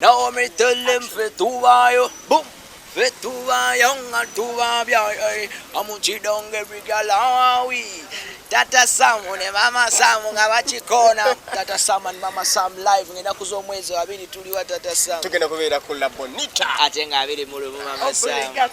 Now me tell them fit to buy you, boom. Fit to buy young and to buy boy. I'm on cheat on every girl how we. Tata Sam ne Mama Sam nga bakikona. Tata Sam and Mama Sam live ngenda kuza omwezi wabiri tuliwa Tata Sam. Tugenda kubeera ku La Bonita. Ate nga abiri mu lumu Mama Sam.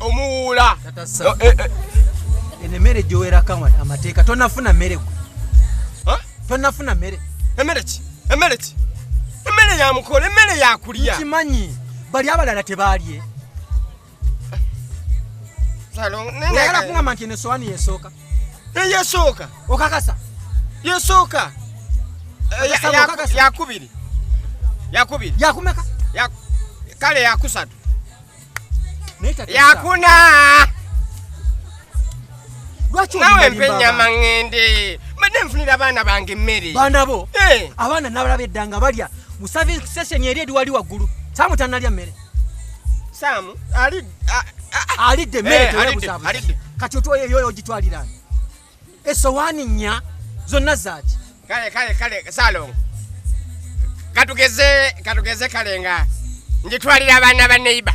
omuwuula oh, eh, eh. eno emmere gyowerako amateeka tonafuna mmere gwe tonafuna mmere emmere ki emmere ki emmere yamukola emmere yakulya kimanyi bali abalala tebaalye oyala kungamba nti enesowani yesooka eyesooka eh, okakasa yesooka yakubiri yakubiri yakumeka kale yakusatu yakuna nawe mpa ennyama ŋŋende mbadde nfunira abaana bange emmere baana bo eh. abaana nabalaba edda nga balya mu service station eri eri wali waggulu saamu tanalya mmere saamu alidde emmere eh, tewebuzabuza kati otoyo yoyo ogitwalirani esowani nya zonna zaki kale kale kale salongo katugeze katugeze kale nga njitwalira abaana ba neiba